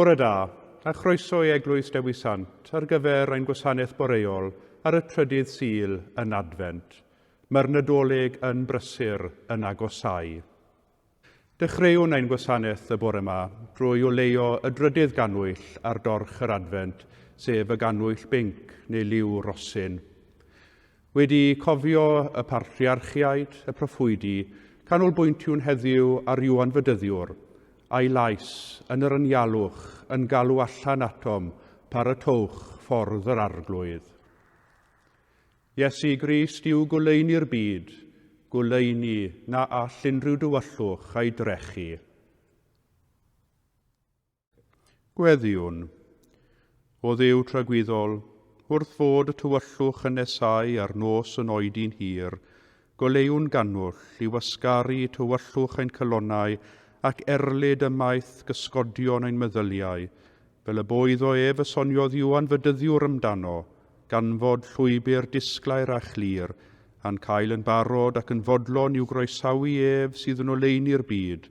Bore da, a chroeso i Eglwys Dewi Sant ar gyfer ein gwasanaeth boreol ar y trydydd Sul yn Adfent. Mae'r Nadolig yn brysur yn agosáu. Dechreuwn ein gwasanaeth y bore ma drwy oleuo y drydydd gannwyll ar dorch yr Adfent, sef y gannwyll binc neu liw rosyn. Wedi cofio y Patriarchiaid, y Proffwydi, canolbwyntiwn heddiw ar Iwan Fedyddiwr, a'i lais, yn yr anialwch, yn galw allan atom, paratoewch ffordd yr Arglwydd. Iesu Grist yw goleuni'r byd, goleuni na all unrhyw dywyllwch ei drechu. Gweddïwn, O Dduw tragwyddol, wrth fod y tywyllwch yn nesáu a'r nos yn oedi'n hir, goleuwn gannwll i wasgaru tywyllwch ein calonnau ac erlid ymaith gysgodion ein meddyliau, fel y bo iddo ef y soniodd Iwan fy dyddiwr amdano, ganfod llwybr disglair a chlir, a'n cael yn barod ac yn fodlon i'w groesawu ef sydd yn oleuni'r byd,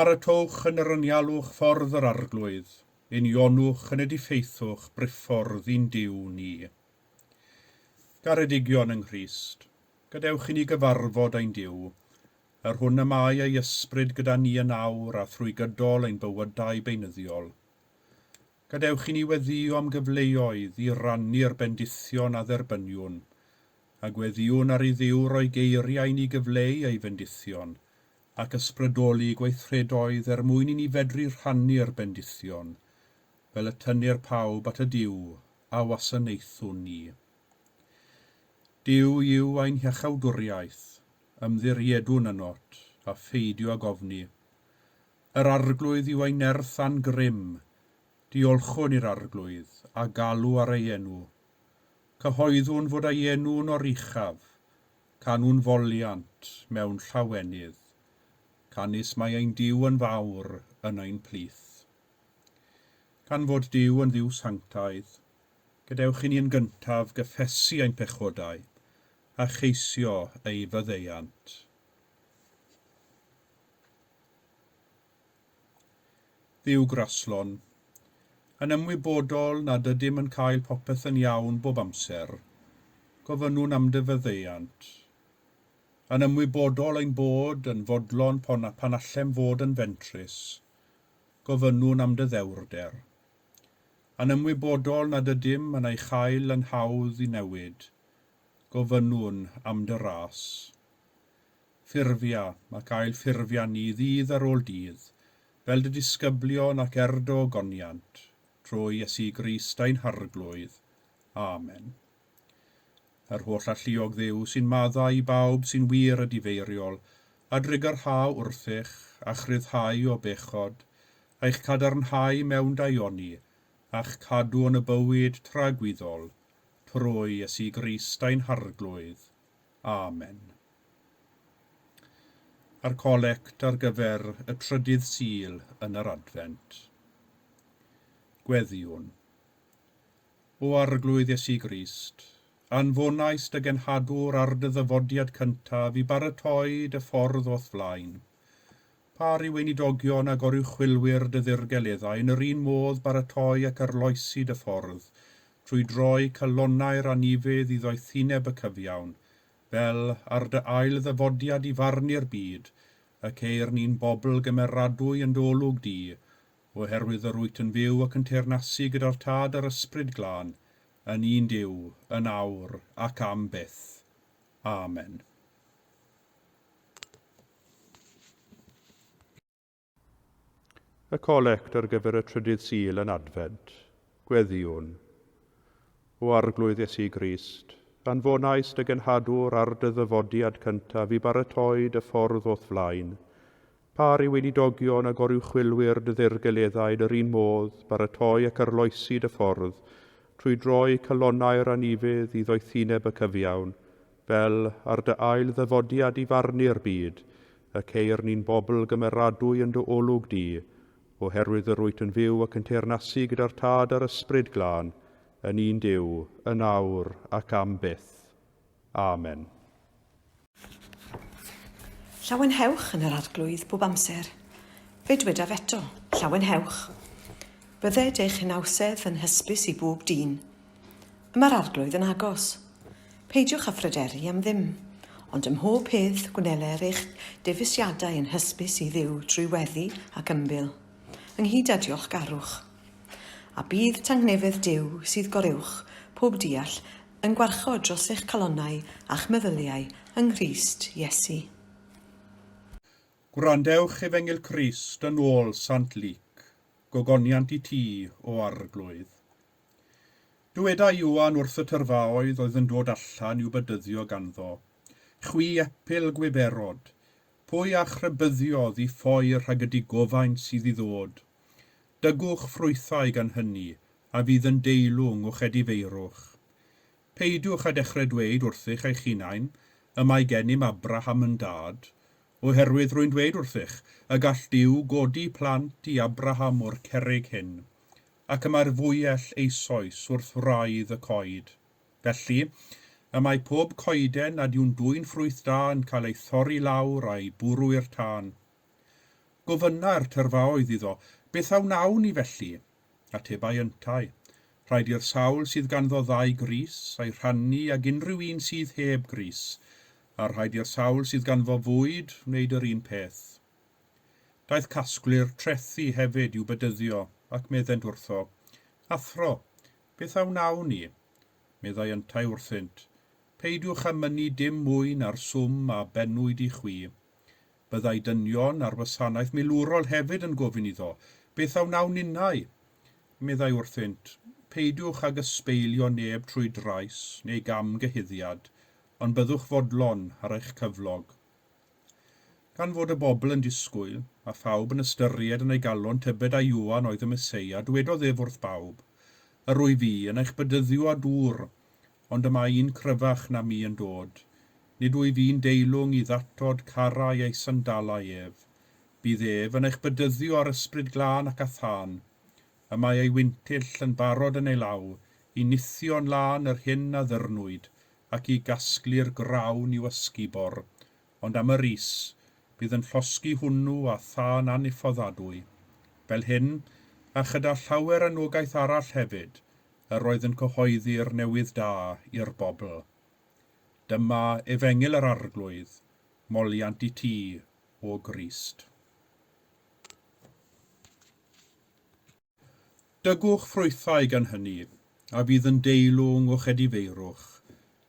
Paratowch yn yr anialwch ffordd yr Arglwydd, unionnwch yn y diffeithwch briffordd i'n Duw ni. Garedigion yng Nghrist, gadewch i ni gyfarfod ein Duw, Yr hwn y mae ei ysbryd gyda ni yn awr a thrwy gydol ein bywydau beunyddiol. Gadewch i ni weddïo am gyfleoedd i rannu'r bendithion a dderbyniwn, a gweddïwn ar i Dduw roi geiriau i ni gyfleu ei fendithion, ac ysbrydoli gweithredoedd er mwyn i ni fedru rhannu'r bendithion, fel y tynnir pawb at y Duw a wasanaethwn ni. Duw yw ein hiachawdwriaeth. Ymddiriedwn yn ot, a pheidio ag ofni. Yr Arglwydd yw ein nerth a'n grym, diolchwn i'r Arglwydd, a galw ar ei enw. Cyhoeddwn fod ei enw'n oruchaf, canwn foliant mewn llawenydd, canys mae ein Duw yn fawr yn ein plith. Gan fod Duw yn Dduw sanctaidd, gadewch i ni yn gyntaf gyffesu ein pechodau, a cheisio ei faddeuant. Dduw graslon. Yn ymwybodol nad ydym yn cael popeth yn iawn bob amser, gofynnwn am dy faddeuant. Yn ymwybodol ein bod yn fodlon pon pan allem fod yn fentrus, gofynnwn am dy ddewrder. Yn ymwybodol nad ydym yn ei chael yn hawdd i newid, gofynnwn am dy ras. Ffurfia ac ail ffurfia ni ddydd ar ôl dydd, fel dy disgyblion ac er do goniant, trwy Iesu Grist ein Harglwydd. Amen. Yr holl alluog Dduw sy'n maddau i bawb sy'n wir a difeiriol, a drygarhau wrthych, a'ch rhyddhau o bechod, a'ch cadarnhau mewn daioni, a'ch cadw yn y bywyd tragwyddol. trwy Iesu Grist ein Harglwydd. Amen. A'r Collect ar gyfer y trydydd Sul yn yr Adfent. Gweddïwn. O Arglwydd Iesu Grist, anfonaist dy genhadwr ar dy ddyfodiad cyntaf i baratoi dy ffordd o'th flaen. Pa ry weinidogion a goruchwylwyr dy ddirgeleddau yn yr un modd baratoi ac arloesi dy ffordd trwy droi calonnau'r anifydd i ddoethineb y cyfiawn, fel, ar dy ail ddyfodiad i farnu'r byd, y ceir ni'n bobl gymeradwy yn dy olwg di, oherwydd yr wyt yn fyw ac yn teyrnasu gyda'r Tad a'r Ysbryd Glân, yn un Duw, yn awr ac am byth. Amen. Y Collect ar gyfer y Trydydd Sul yn Adfent, Gweddïwn. O Arglwydd Iesu Grist, anfonais dy genhadwr ar dy ddyfodiad cyntaf i baratoi dy ffordd o'th flaen. Par i weinidogion a goruwchwylwyr dy ddirgeleddau yn yr un modd, baratoi ac arloesi dy ffordd, trwy droi calonnau'r anifydd i ddoethineb y cyfiawn, Fel, ar dy ail ddyfodiad i farnu'r byd, y ceir ni'n bobl gymeradwy yn dy olwg di, oherwydd yr wyt yn fyw ac yn teyrnasu gyda'r Tad a'r Ysbryd Glân, yn un Duw, yn awr ac am byth. Amen. Llawenhewch yn yr Arglwydd bob amser. Fe dwedaf eto, llawenhewch. Bydded eich hunawsedd yn hysbys i bob dyn. Mae'r Arglwydd yn agos. Peidiwch â phryderu am ddim, ond ym mhob peth gwneler eich dewisiadau yn hysbys i Dduw drwy weddi ac ymbil, ynghyd â diolchgarwch. A bydd tangnefedd Duw, sydd goruwch pob deall, yn gwarchod dros eich calonnau a'ch meddyliau yng Nghrist Iesu. Gwrandewch Efengyl Crist yn ôl Sant Luc, Gogoniant i ti, O Arglwydd, Dywedai Ioan wrth y tyrfaoedd oedd yn dod allan i'w bedyddio ganddo, Chwi epil gwiberod, pwy a'ch rhybuddiodd i ffoi rhag y digofaint sydd i ddod? Dygwch ffrwythau gan hynny, a fydd yn deilwng o'ch edifeirwch. Peidiwch â dechrau dweud wrthych eich hunain, Y mae gennym Abraham yn dad, oherwydd rwy'n dweud wrthych, y gall Duw godi plant i Abraham o'r cerrig hyn. ac y mae'r fwyell eisoes wrth wraidd y coed. Felly, y mae pob coeden nad yw'n dwyn ffrwyth da yn cael ei thorri lawr a'i bwrw i'r tân. Gofynnai'r tyrfaoedd iddo, Beth a wnawn ni felly? Atebai yntau, Rhaid i'r sawl sydd ganddo ddau grys, a'i rhannu ag unrhyw un sydd heb grys, a rhaid i'r sawl sydd ganddo fwyd wneud yr un peth. Daeth casglu'r trethi hefyd i'w bedyddio ac meddent wrtho, Athro, beth a wnawn ni? Meddai yntau wrthynt, Peidiwch â mynnu dim mwy na'r swm a bennwyd i chwi. Byddai dynion ar wasanaeth milwrol hefyd yn gofyn iddo, Beth a wnawn ninnau? Meddai wrthynt, Peidiwch ag ysbeilio neb trwy drais neu gamgyhuddiad, ond byddwch fodlon ar eich cyflog. Gan fod y bobl yn disgwyl, a phawb yn ystyried yn ei galon tybed a Ioan oedd y Meseia, dwedodd ef wrth bawb, Yr wyf i, yn eich bedyddio â dŵr, ond y mae un cryfach na mi yn dod, nid wyf i'n deilwng i ddatod carrau ei sandalau ef. Bydd ef yn eich bedyddio â'r Ysbryd Glân ac â thân. Y mae ei wintyll yn barod yn ei law, i nithio'n lân yr hyn a ddyrnwyd, ac i gasglu'r grawn i'w ysgubor, ond am yr is, bydd yn llosgi hwnnw â thân aniffoddadwy. Fel hyn, a chyda llawer anogaeth arall hefyd, yr oedd yn cyhoeddi'r newydd da i'r bobl. Dyma Efengyl yr Arglwydd, moliant i ti, O Grist. Dygwch ffrwythau gan hynny, a fydd yn deilwng o'ch edifeirwch,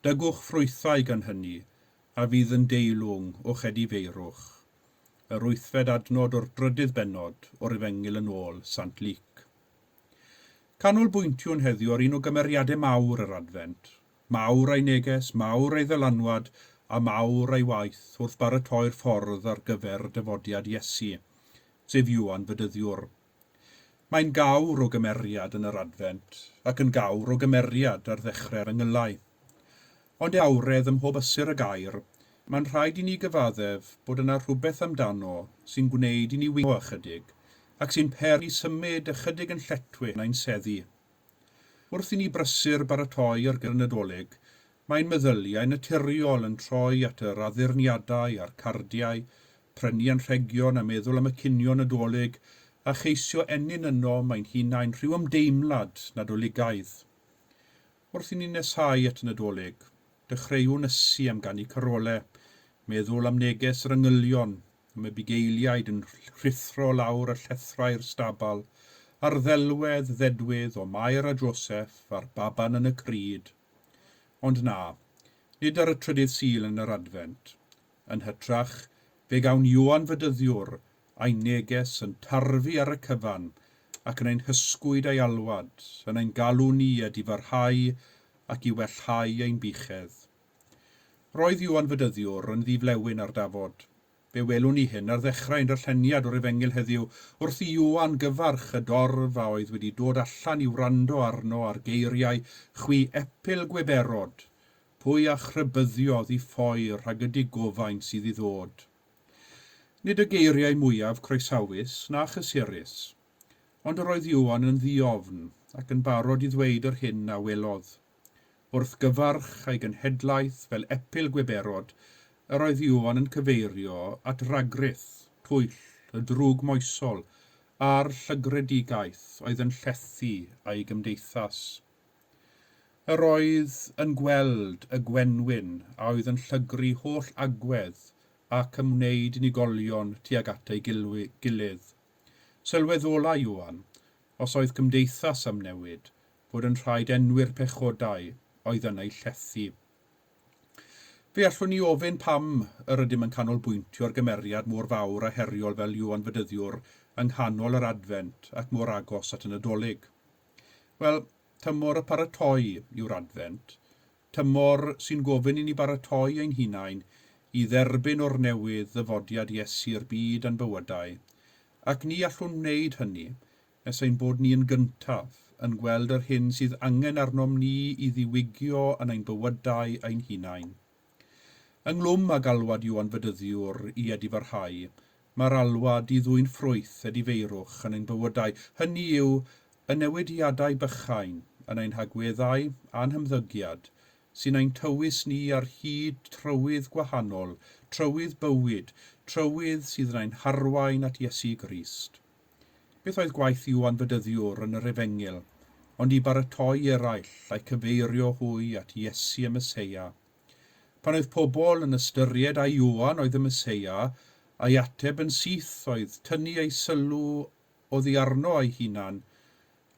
dygwch ffrwythau gan hynny, a fydd yn deilwng o'ch edifeirwch. Yr wythfed adnod o'r drydydd bennod o'r Efengyl yn ôl Sant Luc. Canolbwyntiwn heddiw ar un o gymeriadau mawr yr Adfent, mawr ei neges, mawr ei ddylanwad, a mawr ei waith wrth baratoi'r ffordd ar gyfer dyfodiad Iesu, sef Ioan Fedyddiwr. Mae'n gawr o gymeriad yn yr Adfent ac yn gawr o gymeriad ar ddechre'r Yngyllau. Ond e awredd ym mhob ystyr y gair, mae'n rhaid i ni gyfaddef bod yna rhywbeth amdano sy'n gwneud i ni wingo ychydig ac sy'n peri symud ychydig yn lletwith nain seddi. Wrth i ni brysur baratoi ar gyfer y Nadolig, mae ein meddyliau naturiol yn troi at yr addurniadau a'r cardiau, prynu anrhegion a meddwl am y cinio Nadolig a cheisio ennyn yno mae'n hunain rhyw ymdeimlad Nadoligaidd. Wrth i ni nesáu at y Nadolig, dechreuwn ysu am ganu carolau, meddwl am neges yr angylion, y mae bugeiliaid yn rhuthro lawr y llethrau i'r stabal, a'r ddelwedd ddedwydd o Mair a Joseff a'r baban yn y crud. Ond na, nid ar y trydydd Sul yn yr Adfent. Yn hytrach, fe gawn Ioan Fedyddiwr a'i neges yn tarfu ar y cyfan, ac yn ein hysgwyd a'i alwad, yn ein galw ni i adifarhau ac i wellhau ein buchedd. Roedd Iwan Fedyddiwr yn ddi-flewyn ar Dafod. Fe welwn ni hyn ar ddechrau ein darlleniad o'r Efengyl heddiw, wrth i Iwan gyfarch y dorf a oedd wedi dod allan i wrando arno a'r geiriau, Chwi epil gweberod! Pwy a'ch rhybyddiodd i ffoi rhag y digofaint sydd i ddod? Nid y geiriau mwyaf croesawus na chysurus. Ond yr oedd Iwan yn ddi-ofn ac yn barod i ddweud yr hyn a welodd. wrth gyfarch ei genhedlaeth fel epil gwiberod, yr oedd Iwan yn cyfeirio at ragrith, twyll, y drwg moesol, a'r llygredigaeth oedd yn llethu ei gymdeithas. Yr oedd yn gweld y gwenwyn a oedd yn llygru holl agwedd ac yn wneud unigolion tuag at ei gilydd. Sylweddola Iwan, os oedd cymdeithas am newid, fod yn rhaid enwi'r pechodau oedd yn eu llethu. Fe allwn ni ofyn pam yr ydym yn canolbwyntio'r gymeriad mor fawr a heriol fel Iwan Fedyddiwr yng nghanol yr Adfent ac mor agos at y Nadolig? Wel, tymor y paratoi yw'r Adfent, tymor sy'n gofyn i ni baratoi ein hunain i dderbyn o'r newydd ddyfodiad Iesu i'r byd a'n bywydau, ac ni allwn wneud hynny nes ein bod ni yn gyntaf yn gweld yr hyn sydd angen arnom ni i ddiwygio yn ein bywydau ein hunain. Ynglwm â galwad Ioan Fedyddiwr i edifarhau, mae'r alwad i ddwyn ffrwyth edifeirwch yn ein bywydau, hynny yw, y newidiadau bychain yn ein hagweddau a'n hymddygiad, sy'n ein tywys ni ar hyd trywydd gwahanol, trywydd bywyd, trywydd sydd yn ein harwain at Iesu Grist. Beth oedd gwaith Iwan Fedyddiwr yn yr Efengyl ond i baratoi eraill a'i cyfeirio hwy at Iesu y Meseia. Pan oedd pobl yn ystyried ai Iwan oedd y Meseia, ei ateb yn syth oedd tynnu eu sylw oddi arno ei hunan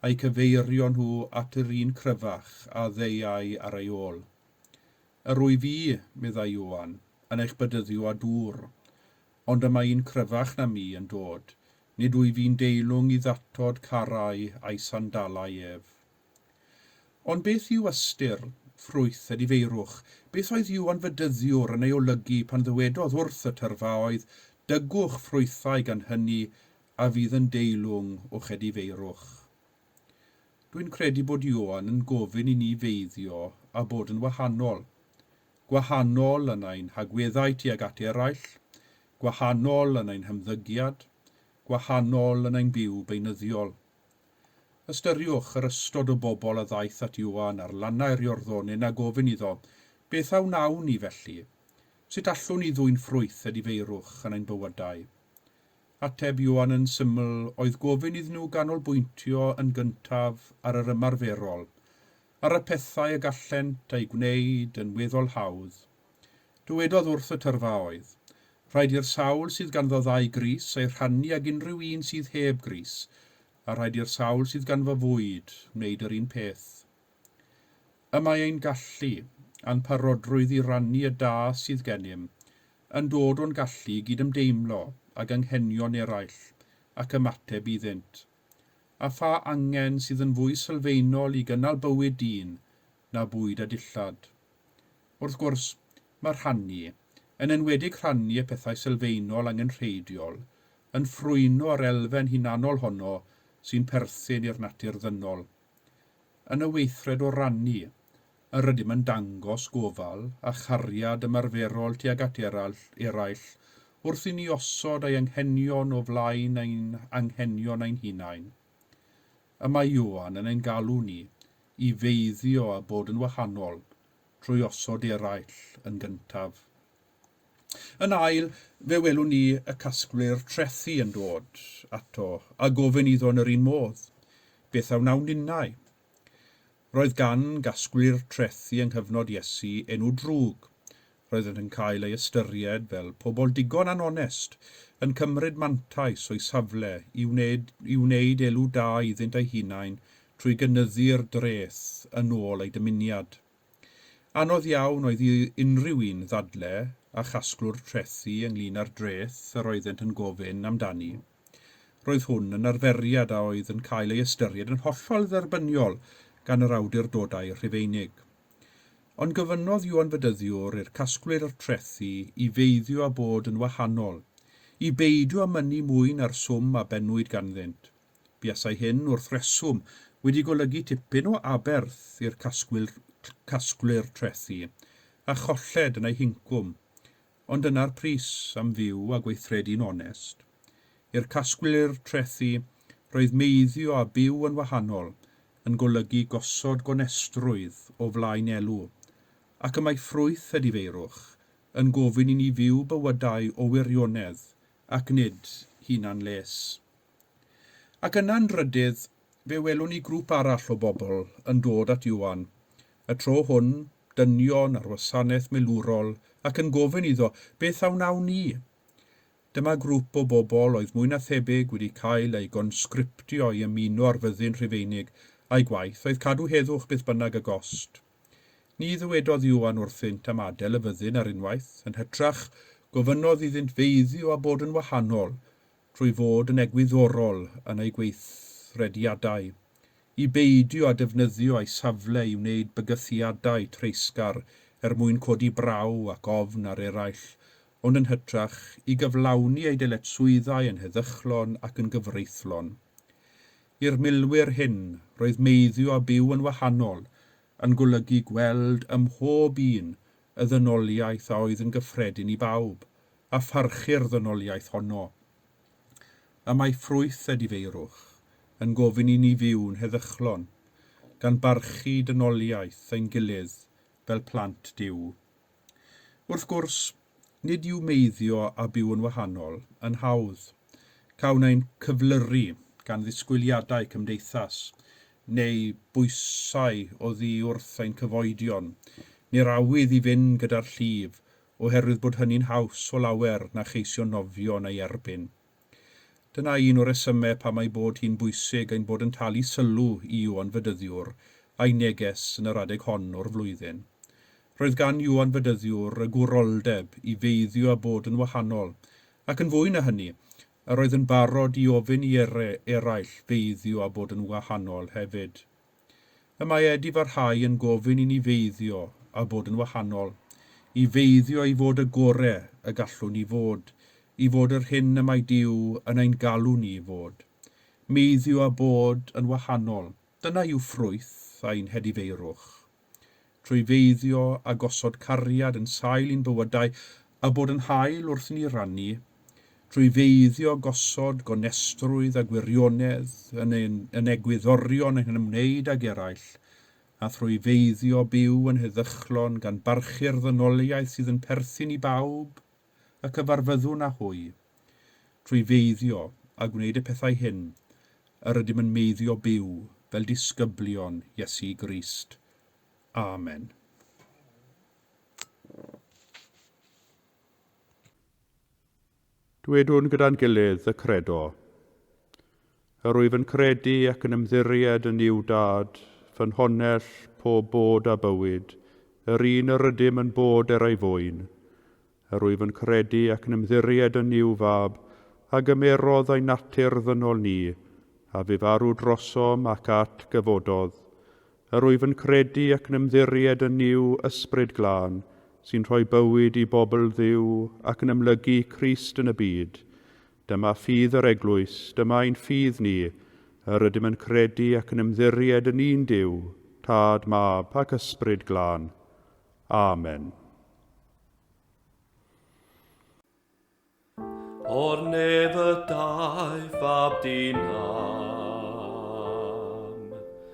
a'u cyfeirio nhw at yr un cryfach a ddeuai ar ei ôl. Yr wyf fi, meddai Iwan, yn eich bedyddio â dŵr. Ond y mae un cryfach na mi yn dod, nid wyf i'n deilwng i ddatod carrau a'i sandalau ef. Ond beth yw ystyr, ffrwyth, y difeirwch? Beth oedd Iwan fy dyddiwr yn ei olygu pan ddywedodd wrth y tyrfaoedd, Dygwch ffrwythau gan hyny a fydd yn deilwng o'ch edifeirwch? Dwi'n credu bod Ioan yn gofyn i ni feiddio a bod yn wahanol. gwahanol yn ein hagweddau tuag at eraill, gwahanol yn ein hymddygiad, gwahanol yn ein byw beunyddiol. Ystyriwch yr ystod o bobl a ddaeth at Ioan ar lannau'r Iorddonen a gofyn iddo, Beth a wnawn ni felly? Sut allwn ni ddwyn ffrwyth a difeirwch yn ein bywydau? Ateb Ioan yn syml oedd gofyn iddyn nhw ganolbwyntio yn gyntaf ar yr ymarferol, ar y pethau y gallent eu gwneud yn weddol hawdd. Dywedodd wrth y tyrfa oedd, Rhaid i'r sawl sydd ganddo ddau grys ei rhannu ag unrhyw un sydd heb grys, a rhaid i'r sawl sydd ganddo fwyd wneud yr un peth. Y mae ein gallu, a'n parodrwydd i rannu y da sydd gennym, yn dod o'n gallu i gydymdeimlo ag anghenion eraill ac ymateb iddynt. a pha angen sydd yn fwy sylfaenol i gynnal bywyd dyn na bwyd a dillad. Wrth gwrs, mae rhannu, yn enwedig rhannu y pethau sylfaenol angenrheidiol, yn ffrwyno yr elfen hunanol honno sy'n perthyn i'r natur ddynol. Yn y weithred o rannu, yr ydym yn dangos gofal a chariad ymarferol tuag at eraill, eraill wrth i ni osod ei anghenion o flaen ein anghenion ein hunain. Y mae Ioan yn ein galw ni i feiddio a bod yn wahanol trwy osod eraill yn gyntaf. Yn ail, fe welwn ni y casglwyr trethi yn dod ato a gofyn iddo yn yr un modd, Beth a wnawn ninnau? Roedd gan gasglu'r trethi yng nghyfnod Iesu enw drwg. Roeddent yn cael eu ystyried fel pobl digon anonest, yn cymryd mantais o'u safle i wneud i wneud elw da iddynt eu hunain trwy gynyddu'r dreth yn ôl eu dymuniad. Anodd iawn oedd i unrhyw un ddadle â chasglwr trethi ynglŷn â'r dreth yr oeddent yn gofyn amdani. Roedd hwn yn arferiad a oedd yn cael ei ystyried yn hollol dderbyniol gan yr awdurdodau Rhufeinig. Ond gofynnodd Iwan Fedyddiwr i'r casglwyr o'r trethi i feiddio a bod yn wahanol, i beidio â mynnu mwy na'r swm a bennwyd ganddynt. Buasai hyn, wrth reswm, wedi golygu tipyn o aberth i'r casglwyr trethi, a cholled yn eu hincwm. Ond dyna'r pris am fyw a gweithredu'n onest. I'r casglwyr trethi, roedd meiddio a byw yn wahanol yn golygu gosod gonestrwydd o flaen elw, ac y mae ffrwyth y difeirwch yn gofyn i ni fyw bywydau o wirionedd ac nid hunan-les. Ac yna yn drydydd, Fe welwn ni grŵp arall o bobl yn dod at Ioan, y tro hwn, dynion ar wasanaeth milwrol, ac yn gofyn iddo, Beth a wnawn ni? Dyma grŵp o bobl oedd mwy na thebyg wedi cael eu gonsgriptio i ymuno â'r Fyddin Rhufeinig, a'u gwaith oedd cadw heddwch beth bynnag y gost. Ni ddywedodd Ioan wrthynt am adael y Fyddin ar unwaith, yn hytrach, gofynnodd iddynt feiddio a bod yn wahanol, drwy fod yn egwyddorol yn eu gweithrediadau, i beidio â defnyddio eu safle i wneud bygythiadau treisgar er mwyn codi braw ac ofn ar eraill, ond yn hytrach i gyflawni eu dyletswyddau yn heddychlon ac yn gyfreithlon. I'r milwyr hyn, roedd meiddio a byw yn wahanol yn golygu gweld ym mhob un y ddynoliaeth a oedd yn gyffredin i bawb, a pharchu'r ddynoliaeth honno. Y mae ffrwyth a difeirwch yn gofyn i ni fyw'n heddychlon, gan barchu dynoliaeth ein gilydd fel plant Duw. Wrth gwrs, nid yw meiddio a byw yn wahanol yn hawdd. Cawn ein cyflyru gan ddisgwyliadau cymdeithas, neu bwysau oddi wrth ein cyfoedion, ni'r awydd i fynd gyda'r llif, oherwydd bod hynny'n haws o lawer na cheisio nofio yn ei erbyn. Dyna un o resymau pam ei bod hi'n bwysig ein bod yn talu sylw i Iwan Fedyddiwr a'i neges yn yr adeg hon o'r flwyddyn. Roedd gan Iwan Fedyddiwr y gwroldeb i feiddio a bod yn wahanol, ac yn fwy na hynny, yr oedd yn barod i ofyn i ere eraill feiddio a bod yn wahanol hefyd. Y mae Ed i farhau yn gofyn i ni feiddio a bod yn wahanol, i feiddio i fod y gore y gallwn ni fod, i fod yr hyn y mae Duw yn ein galw ni i fod. Meiddio a bod yn wahanol, dyna yw ffrwyth ein hedifeirwch. trwy feiddio a gosod cariad yn sail i'n bywydau a bod yn hael wrth i ni rannu, trwy feiddio gosod gonestrwydd a gwirionedd yn ein yn egwyddorion yn ymwneud ag eraill, a thrwy feiddio byw yn heddychlon gan barchu'r ddynoliaeth sydd yn perthyn i bawb. y cyfarfyddwn â hwy. Trwy feiddio a gwneud y pethau hyn, yr ydym yn meiddio byw fel disgyblion Iesu Grist. Amen. Dwedwn gyda'n gilydd y Credo. Yr wyf yn credu ac yn ymddiried yn Nuw Dad, fy Nhonnell, pob bod a bywyd, yr un yr ydym yn bod er ei fwyn. Yr wyf yn credu ac yn ymddiried yn Nuw Fab, a gymerodd ein natur ddynol ni, a fu farw drosom ac at gyfododd. Yr wyf yn credu ac yn ymddiried yn Nuw Ysbryd Glân, sy'n rhoi bywyd i bobl Dduw ac yn amlygu Crist yn y byd. Dyma ffydd yr Eglwys, dyma ein ffydd ni, yr ydym yn credu ac yn ymddiried yn un Duw, Tad, Mab, ac Ysbryd Glân. Amen. O'r neb y daeth fab di nam.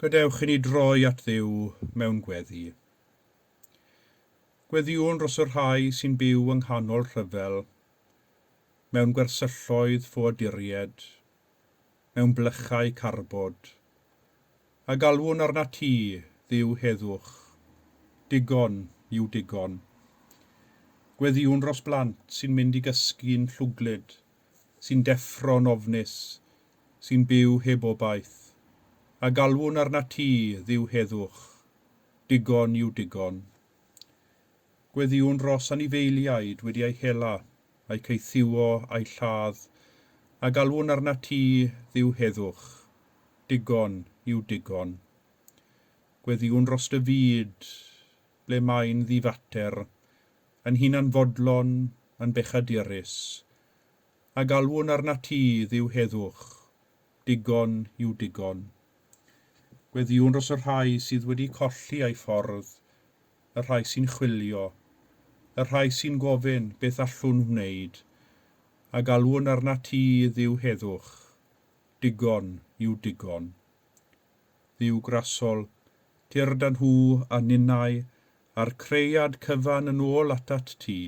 Gadewch i ni droi at Dduw mewn gweddi. Gweddïwn dros y rhai sy'n byw yng nghanol rhyfel mewn gwersylloedd ffoaduried, mewn blychau carbod, a galwwn arnat ti, Dduw heddwch, digon yw digon. Gweddïwn dros blant sy'n mynd i gysgu'n llwglyd, sy'n deffro'n ofnus, sy'n byw heb obaith, a galwwn arnat ti, Dduw heddwch, digon yw digon. Gweddïwn ros anifeiliaid wedi eu hela, a'u caethiwo, a'u lladd, a galwwn arnat ti, Dduw heddwch. Digon yw digon. Gweddïwn ros dy fyd, ble mae'n ddifater, yn hunanfodlon, yn bechadurus, a galwwn arnat ti, Dduw heddwch. Digon yw digon. Gweddïwn dros y rhai sydd wedi colli eu ffordd, y rhai sy'n chwilio, y rhai sy'n gofyn beth allwn wneud, a galwn arnat i, Dduw heddwch, digon yw digon. Dduw grasol, tyrd â nhw a ninnau a'r cread cyfan yn ôl atat ti,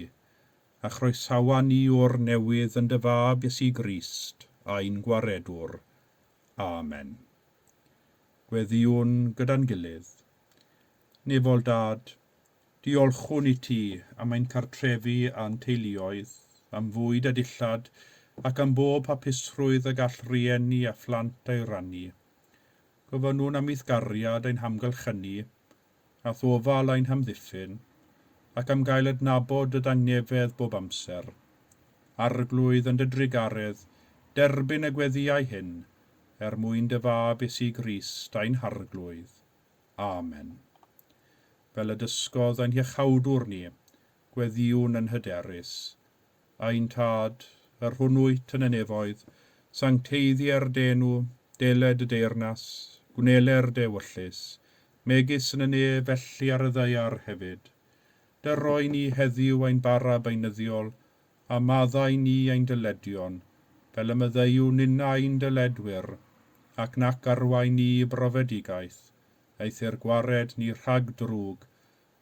a chroesawa ni o'r newydd yn dy fab Iesu Grist, ein Gwaredwr. Amen. Gweddïwn gyda'n gilydd. Nefol Dad, diolchwn i ti am ein cartrefi a'n teuluoedd, am fwyd a dillad, ac am bob hapusrwydd y gall rhieni a phlant ei rannu. Gofynnwn am eithgariad ein hamgylch ynni, a thofal ein hamddiffyn, ac am gael adnabod dy ddangnefedd bob amser. Arglwydd, yn dy drugaredd, derbyn y gweddïau hyn, er mwyn dy Fab Iesu Grist, ein Harglwydd. Amen. Fel y dysgodd ein Hiachawdwr ni, gweddïwn yn hyderus. Ein Tad, yr hwn wyt yn y nefoedd, sancteiddier dy enw, dele dy deyrnas, gwneler dy ewyllys, megis yn y ne felly ar y ddaear hefyd. Dy roi ni heddiw ein bara beunyddiol, a maddau ni ein dyledion, fel y maddeuw ninna ein dyledwyr, ac nac arwain ni i brofedigaeth, eithr gwared ni rhag drwg,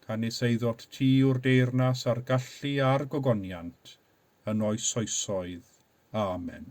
canys ei ddod tu yw'r deyrnas a'r gallu a'r gogoniant yn oes oesoedd. Amen.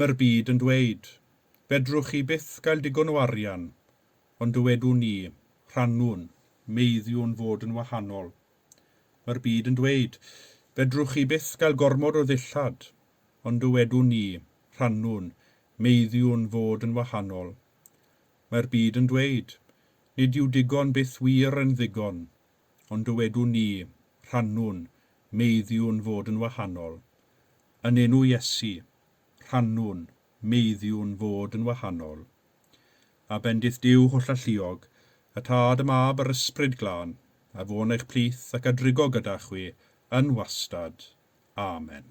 Mae'r byd yn dweud, 'Fedrwch chi byth gael digon o arian', ond dywedwn ni, 'Rhannwn, meiddiwn fod yn wahanol'. Mae'r byd yn dweud, 'Fedrwch chi byth gael gormod o ddillad', ond dywedwn ni, 'Rhannwn, meiddiwn fod yn wahanol'. Mae'r byd yn dweud, 'Nid yw digon byth wir yn ddigon', ond dywedwn ni, rhannwn, meiddiwn fod yn wahanol. Yn enw Iesu, rhannwn, meiddiwn fod yn wahanol. A bendith Duw hollalluog, y Tad, y Mab, a'r Ysbryd Glân, a fo yn eich plith ac a drigo gyda chwi yn wastad. Amen.